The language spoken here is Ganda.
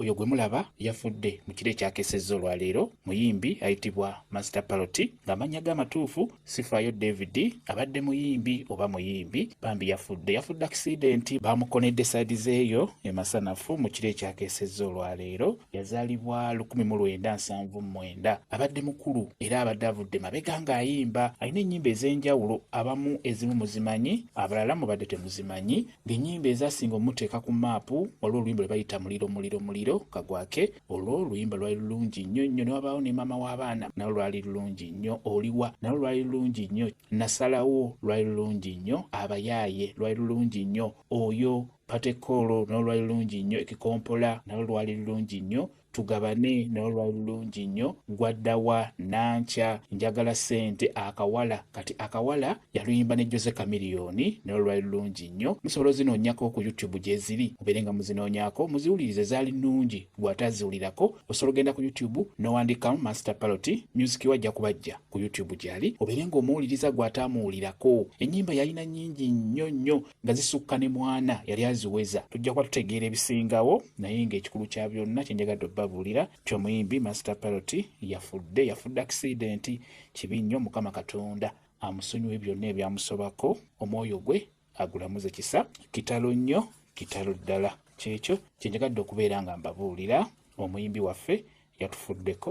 Oyo gwe mulaba yafudde mu kiro ekyakesezza olwaleero muyimbi ayitibwa Master Paroti ng'amannya ge amatuufu Sifaayo David abadde muyimbi oba muyimbi bambi yafudde yafudde akisidenti baamukonedde saidi zeeyo e Masanafu mu kiro ekyakesezza olwaleero yazaalibwa lukumi mu lwenda nsanvu mu mwenda abadde mukulu era abadde avudde mabega ng'ayimba alina ennyimba ez'enjawulo abamu ezimu muzimanyi abalala mubadde temuzimanyi Ng'ennyimba ezaasinga omuteeka ku maapu, waliwo oluyimba lwe bayita Muliro Muliro Muliro kagwake. Olwo oluyimba lwali lulungi nnyo nnyo ne wabaawo ne maama w'abaana nalwo lwali lulungi nnyo. Oliwa nalwo lwali lulungi nnyo. Nasalawo lwali lulungi nnyo. Abayaaye lwali lulungi nnyo. Oyo Patekoolo nalwo lwali lulungi nnyo. Ekikompola nalwo lwali lulungi nnyo. tugabane naye olwali lulungi nnyo gwaddawa nankya njagala sente akawala kati akawala yaluyimba ne jose kamiliyoni naye olwali lulungi nnyo musobola ozinoonyako ku youtube gyeziri mubeere nga muzinoonyako muziwulirize zaali nnungi gwataziwulirako osobola ogenda ku youtube nowandikamu master palot music wajja kubajja ku youtube gyali obeere nga omuwuliriza gwataamuwulirako ennyimba yalina nnyingi nnyo nnyo nga zisukka ne mwana yali aziweza tujja kuba tutegeera ebisingawo naye ng'ekikulu kya byonna kye njagadde obabuulira nti omuyimbi master parot yafudde yafudde akisidenti kibi nnyo mukama katonda amusonyiwe byonna ebyamusobako omwoyo gwe agulamuze kisa kitalo nnyo kitalo ddala kyekyo kye njagadde okubeera nga mbabuulira omuyimbi waffe yatufuddeko